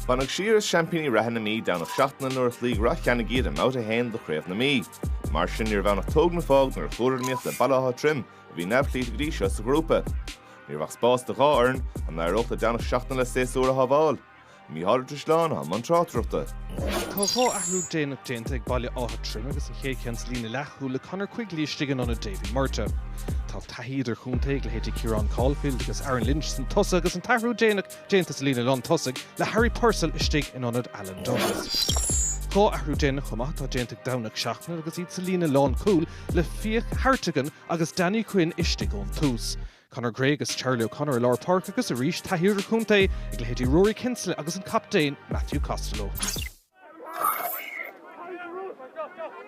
Baineadh siar as seaimpíní reatha na Mí Domhnach Seachnaill nuair a chloígh Ráth Cheannaigh iad i mbabhta a haon de Chraobh na Mí. Mar sin níorbh ann ach tóg nó fág nuair a chuadar in iomaíocht le Baile Átha Troim, a bhí neamhchloíte go dtí seo sa ghrúpa. Ní raibh ach spás do dhá fhoireann, an n-éireodh le Domhnach Seachnaill a séasúr a shábháil? Micheál Ó Drisleáin, atá i mbun tráchtaireachta. Tá dhá athrú déanach déanta ag Baile Átha Troim agus an chéad cheann sa líne leathchúil le Conor Quigley istigh in ionad Davy Murtagh. Tá taithí idirchontae ag leithéidí Kieran Caulfield agus Aaron Lynch san tosach agus an t-athrú déanach déanta sa líne lán tosaigh le Harry Purcell istigh in ionad Alan Douglas. Dhá athrú déanach chomh maith atá déanta ag Domhnach Seachnaill agus iad sa líne lán cúil le Fiach Hartigan agus Danny Quinn istigh ón tús. Conor Gray agus Charlie O'Connor i lár páirce agus arís taithí idirchontae ag leithéidí Ruairí Kinsella agus an captaen Matthew Costello.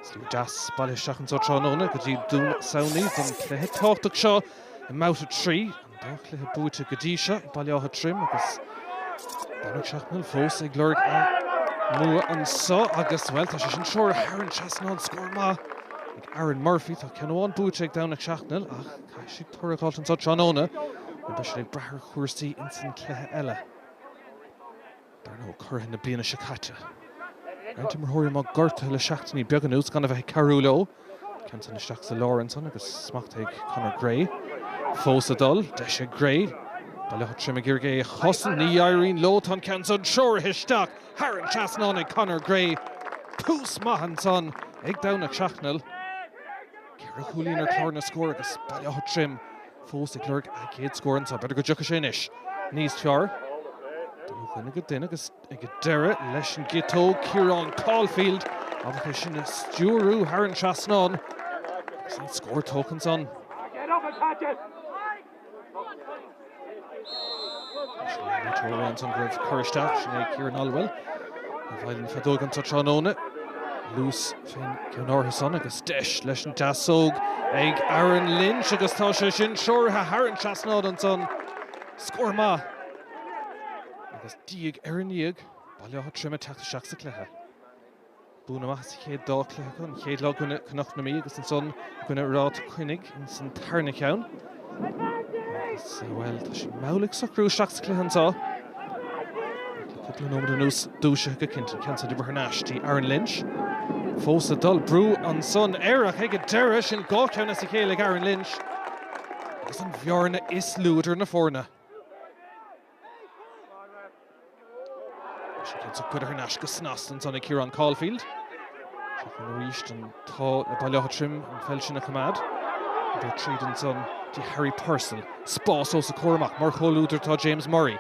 Slua deas bailithe isteach anseo tráthnóna go dtí Dún Samhnaí don chluiche tábhachtach seo i mbabhta a trí. An dá chluiche buaite go dtí seo ag Baile Átha Troim agus Domhnach Seachnaill fós ag lorg a mbua anseo agus, bhuel, tá sé sin treoraithe thar an trasnán. Scór maith ag Aaron Murphy. Tá ceann amháin buaite ag Domhnach Seachnaill ach caithfidh siad toradh a fháilt anseo tráthnóna nó beidh siad ag brath ar chúrsaí insan chluiche eile. Dar ndóigh, curaidh na bliana seo caite. Roinnt imreoirí amuigh gortaithe le seachtainí beaga anuas, gan a bheith ag cabhrú leo. Ceann san isteach sa lár ansan agus smacht ag Conor Gray. Fós ag dul. Deis ag Gray. Baile Átha Troim ag iarraidh é a chosaint. Ní éiríonn leo. Tá an ceann san treoraithe isteach thar an trasnán ag Conor Gray. Tús maith ansan ag Domhnach Seachnaill. Ceithre chúilín ar chlár na scór agus Baile Átha Troim fós ag lorg a gcéad scór anseo. B'fhéidir go dtiocfaidh sé anois. Níos fearr. Duine go duine agus ag an deireadh leis an gciotóg, Ciarán Caulfield ábalta é sin a stiúradh thar an trasnán agus an scór tógtha ansan. Sin Richard O'Ryan san raibh cur isteach sin ag Kieran Olwell i bhfeighil na feadóige tráthnóna. Leis féin ceann ardaithe ansan agus deis leis an deasóg ag Aaron Lynch agus tá sé sin treoraithe thar an trasnán ansan. Scór maith agus diaidh ar ndiaidh Baile Átha Troim ag teacht isteach sa cluiche. Buanna maithe sa chéad dá chluiche acu, an chéad lá i gcoinne Chnoc na Mí agus ansan i gcoinne Ráth Cheannaigh san tarna cheann. Agus, bhuel, tá siad mall ag socrú isteach sa chluiche anso. Le cúpla nóiméad anuas, dúisithe go cinnte an ceann san de bharr na aistí. Aaron Lynch fós ag dul. Brú ansan air ach ag an deireadh, sin dhá cheann as a chéile ag Aaron Lynch agus an bhearna is lú idir na foirne. Bhí sé cinnte curtha thar n-ais go snasta ansan ag Ciarán Caulfield. Seo chugainn arís an t-ádh le Baile Átha Troim an pheil sin a choimeád. Iad ar tríd ansan dtí Harry Purcell. Spás os a comhair amach mar chomhluadar atá James Murray.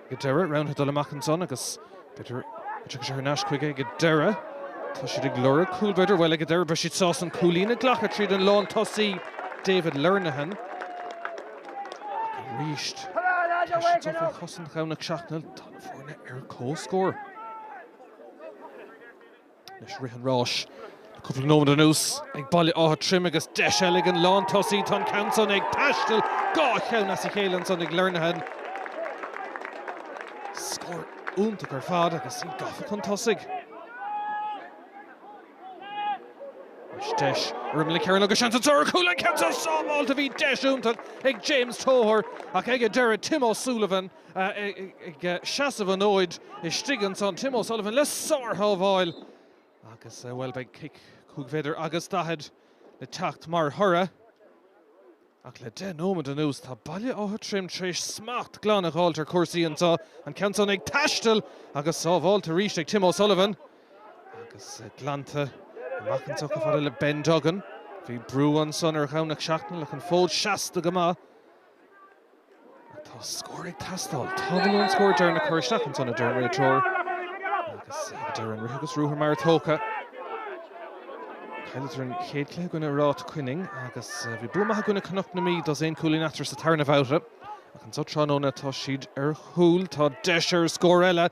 Ag an deireadh, roghnaithe dul amach ansan agus. B'fhéidir go dtiocfaidh sé thar n-ais chuige ag an deireadh. Tá siad ag lorg cúl b'fhéidir. Bhuel, ag an deireadh beidh siad sásta an cúilín a ghlacadh tríd an lántosaí David Lenihan. Arís tá sé tofa trí chosaint Dhomhnach Seachnaill. Tá na foirne ar comhscór. Leis rith an ráis le cúpla nóiméad anuas ag Baile Átha Troim agus deis eile ag an lántosaí. Tá an ceann san ag taisteal dhá cheann as a chéile ansan ag Lernahan. Scór iontach ar fad agus iad gafa chun tosaigh. Deis ar an gceathrú ceann agus seans an tarna cúl. An ceann san sábháilte! Bhí deis iontach ag James Toher ach ag an deireadh Tim O'Sullivan. ag seasamh an fhóid istigh ansan, Tim O'Sullivan le sárshábháil agus, bhuel, beidh cic chúig mhéadar agus daichead le teacht mar thoradh. Ach le deich nóiméad anuas, tá Baile Átha Troim tar éis smacht glan a dh'fháilt ar chúrsaí anso, an ceann san ag taisteal agus sábháilte arís ag Tim O'Sullivan agus glanta amach anso chomh fada le Ben Duggan. Bhí brú ansan ar Dhomhnach Seachnaill ach an fód seasta go maith. Tá scór ag teastáil, tamall ón scór deireanach a chur isteach ansan, a deir an réiteoir agus ag deireadh an rith agus ruathar mara tógtha, chailleadar an chéad chluiche i gcoinne Ráth Coinnigh agus bhí bua maith i gcoinne Cnoc na Mí, dosaen cúilín eatarthu sa tarna bhabtha. Ach anso tráthnóna tá siad ar chúl, tá deis ar scór eile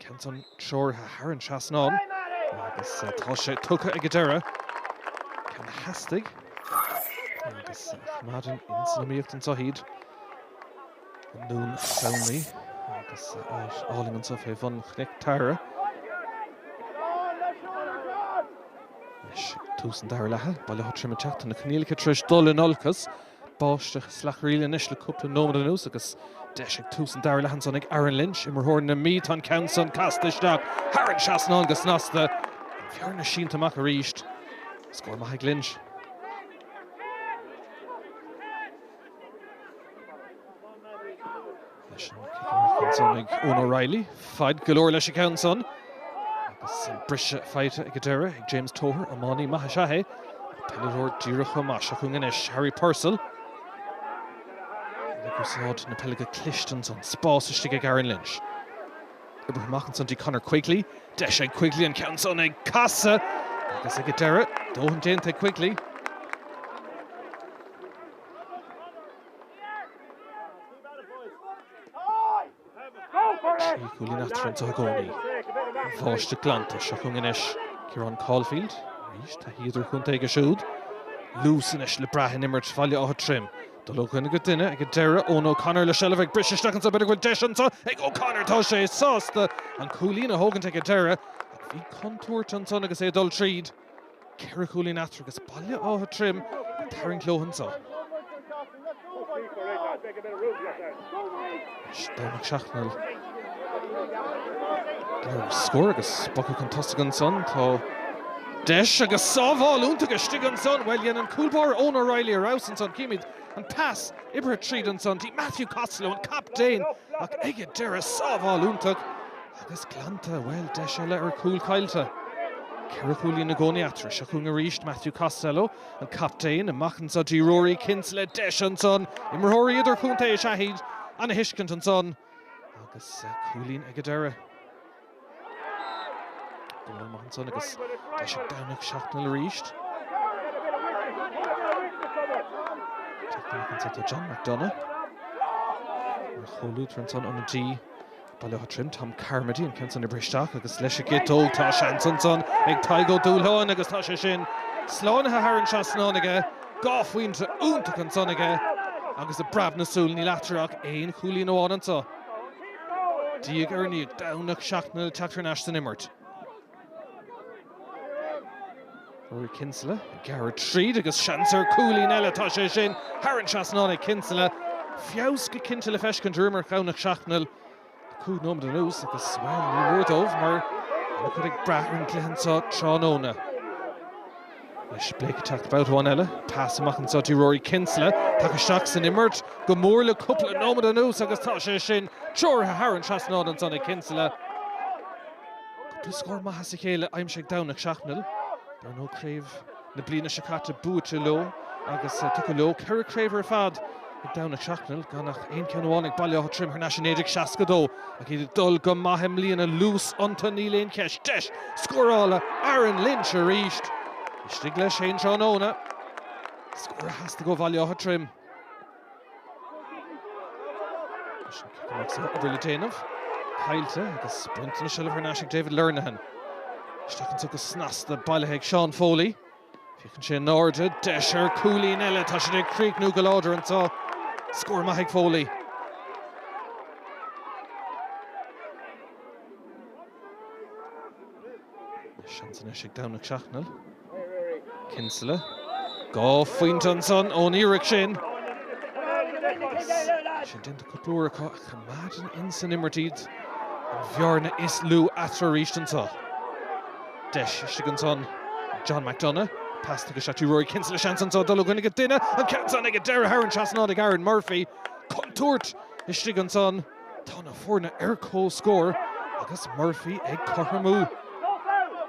Ceann san treoraithe thar an trasnán agus tá sé tugtha ag an deireadh ceann a theastaigh agus a choimeádann ins an iomaíocht anso iad i nDún Samhnaí agus álainn anso fé bhun Chnoic Teamhrach leis tús an dara leatha. Baile Átha Troim ag teacht anois na coinníollacha tar éis dul in olcas Báisteach ag clagarnaíl anois le cúpla nóiméad anuas agus deis ag tús an dara leath ansan ag Aaron Lynch, imreoir na Mí. Tá an ceann san casta isteach thar an trasnán go snasta. An bhearna sínte amach arís. Scór maith ag Lynch. leis ansan ag Eoin O'Reilly, faid go leor leis an gceann san agus an briseadh faighte ag an deireadh ag James Toher, iománaí maith is ea é, ach peileadóir díreach chomh maith. Seo chugainn anois Harry Purcell ag úsáid na peile go cliste ansan, spás istigh ag Aaron Lynch. Oibrithe amach ansan dtí Conor Quigley, deis ag Quigley, an ceann san ag casadh agus ag an deireadh, dóthain déanta ag Quigley. Trí chúilín eatarthu anso i gcónaí an bháisteach glanta seo chugainn anois, Ciarán Caulfield, arís, taithí idirchontae aige siúd. Luas anois le brath in imirt Bhaile Átha Troim. Dul ó dhuine go duine ag an deireadh, Eoin O'Connor le seilbh ag briseadh isteach anso, b'fhéidir go bhfuil deis anso ag O'Connor, tá sé sásta an cúilín a thógaint ag an deireadh ach bhí contúirt ansan agus é ag dul tríd. Ceithre chúilín eatarthu agus Baile Átha Troim ag tarraingt leo anso. Anois Domhnach Seachnaill. Gearradh ar scór agus bogtha chun tosaigh ansan. Tá deis agus sábháil iontach istigh ansan. Bhuel, dhein an cúl báire Eoin O'Reilly ar fheabhas ansan. Címid an pas oibrithe tríd ansan dtí Matthew Costello, an captaen, ach ag an deireadh, sábháil iontach. Agus glanta, bhuel, deis eile ar chúl caillte. Ceithre chúilín i gcónaí eatarthu. Seo chugainn arís Matthew Costello, an captaen, amach anso dtí Ruairí Kinsella, deis ansan. Imreoirí idirchontae is ea iad, an-thuiscint ansan agus cúilín ag an deireadh. Dónal amach ansan agus deis ag Domhnach Seachnaill arís. Teacht amach anso atá John McDonagh, an chomhluadar ansan ó na G. Baile Átha Troim, Tom Carmody, an ceann san oibrithe isteach agus leis an gciotóg. Tá seans ansan ag Tadhg Ó Dúshláin agus tá sé sin slánaithe thar an trasnán aige. Dhá phointe iontach ansan aige agus i bpreab na súl níl eatarthu ach aon chúilín amháin anso. Diaidh ar ndiaidh, Domhnach Seachnaill ag teacht thar n-ais san imirt. Ruairí Kinsella ag gearradh tríd agus seans ar cúilín eile, tá sé sin thar an trasnán ag Kinsella, feabhas go cinnte le feiscint ar imirt Dhomhnach Seachnaill le cúig nóiméad anuas agus, bhuel, ní mór dóibh mar tá an-chuid ag brath ar an gcluiche anso tráthnóna. Anois Blake ag teacht babhta amháin eile, pas amach anso dtí Ruairí Kinsella, tagtha isteach san imirt go mór le cúpla nóiméad anuas agus tá sé sin treoraithe thar an trasnán ansan ag Kinsella. Trí scór maith as a chéile aimsithe ag Domhnach Seachnaill. Dar ndóigh, craobh na bliana seo caite buaite leo agus tugtha leo. Ceithre chraobh ar fad ag Domhnach Seachnaill, gan ach aon cheann amháin ag Baile Átha Troim thar n-ais i 1962. Ach iad ag dul go maith i mbliana, luas iontu níl aon cheist. Deis scórála Aaron Lynch arís. Istigh leis féin tráthnóna. Scór a theastaigh ó Bhaile Átha Troim. Anois an ceann amach sa obair le déanamh. Caillte agus buntáiste na seilbhe thar n-ais ag David Lernihan. Isteach anso go snasta, bailithe ag Seán Foley. Féachann sé in airde, deis ar chúilín eile, tá siad ag críochnú go láidir anso. Scór maith ag Foley. Seans anois ag Domhnach Seachnaill. Kinsella. Dhá phointe ansan ón iarracht sin. Agus tá sé déanta cúpla uair acu ach coimeádann insan imirt iad an bhearna is lú eatarthu arís anseo. Deis istigh ansan ag John McDonagh. Pas tugtha isteach dtí Rory Kinsella. Seans anso dul ó dhuine go duine. An ceann san ag an deireadh thar an trasnán ag Aaron Murphy. Contúirt istigh ansan. Tá na foirne ar comhscór agus Murphy ag cothromú.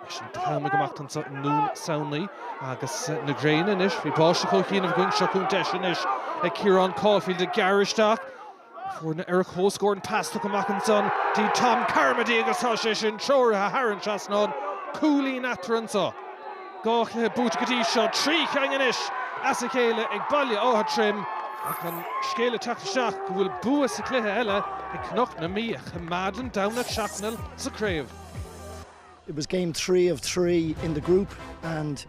Leis an t-am ag imeacht anseo i nDún Samhnaí agus na gréine anois, bhí báisteach ó chianaibh againn, seo chugainn deis anois ag Ciarán Caulfield ag gearradh isteach. Na foirne ar comhscór, an pas tugtha amach ansan dtí Tom Carmody agus tá sé sin treoraithe thar an trasnán, cúilín eatarthu anseo. Dhá chluiche buaite go dtí seo, trí cheann anois as a chéile ag Baile Átha Troim ach an scéal ag teacht isteach go bhfuil bua sa chluiche eile ag Cnoc na Mí a choimeádann Domhnach Seachnaill sa chraobh. It was game three of three in the group and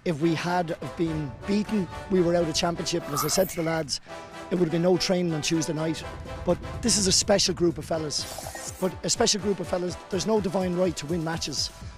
if we had have been beaten we were out of championship and as I said to the lads it would have been no training on Tuesday night but this is a special group of fellas but a special group of fellas there's no divine right to win matches